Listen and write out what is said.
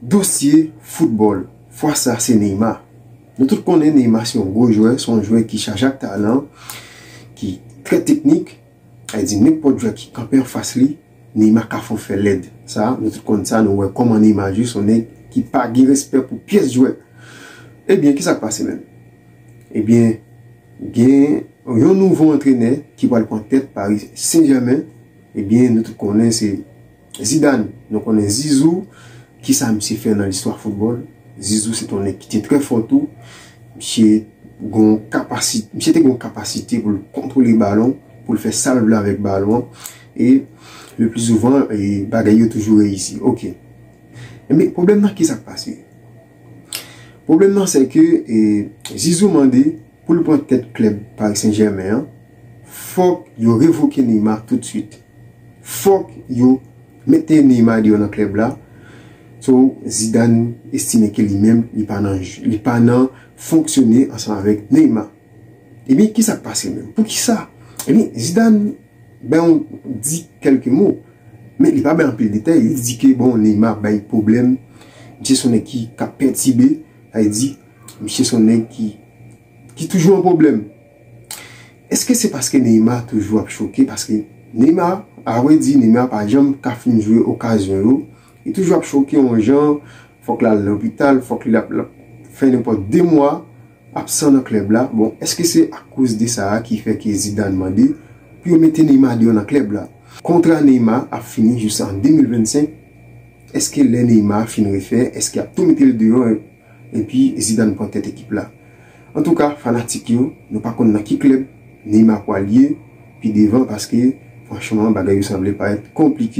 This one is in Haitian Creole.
Dosye foutbòl, fwa sa se Neymar. Nou tout konnen Neymar se yon gwo jwè, se yon jwè ki chaje ak talan, ki trè teknik, sa vle di nenpòt jwè ki kanpe anfas li, Neymar ka fè w fè lèd. Sa, nou tout konn sa, nou wè kòman Neymar jwe, se yon nèg ki pa gen respè pou pyès jwè. Ebyen, ki sa k pase menm? Ebyen, gen yon nouvo antrenè ki pral pran tèt Paris Saint-Germain, ebyen nou tout konnen se. Zidane, nou konnen Zizou, ki sa misye fè nan listwa foutbòl? Zizou se te yon nèg ki te trè fò tou. Misye gon kapasite, misye te gon kapasite pou l kontwole balon, pou l fè sa l vle avèk balon an. E le pli zouvan, bagay yo toujou reyisi. Ok. Enben, pwoblèm nan ki sa k pase? Pwoblèm nan se ke Zizou mande Pou l pran tèt klèb Paris Saint Germain an, fòk yo revoke Neymar tout swit. Fòk yo mete Neymar deyò nan klèb la. So, Zidane estime ke li menm li pa nan li pa nan fonksyone ansanm avèk Neymar. Ebyen ki sa k pase menm? Poukisa? Ebyen Zidane bay yon di kèlke mo, men li pa bay anpil detay. Li di ke bon Neymar bay pwoblèm, misye se yon nèg ki ka pètibe, sa vle di Misye son nèg ki ki toujou an pwoblèm. Eske se paske Neymar toujou ap choke paske Neymar a vrè di Neymar pa janm ka fin jwe okazyon yo li toujou ap choke yon jan fòk lal lopital fòk li lap lap fè nenpòt 2 mwa absan nan klèb la bon eske se akoz de sa a ki fè ke Zidane mande pou yo mete Neymar deyò nan klèb la. Kontra Neymar ap fini jis an 2025 eske lè Neymar fin refè eske yap tou mete l deyò. epi Zidane pran tèt ekip la. Antouka fanatik yo, nou pa konn nan ki klèb Neymar pwal ye pi devan paske franchman bagay yo sanble parèt konplike.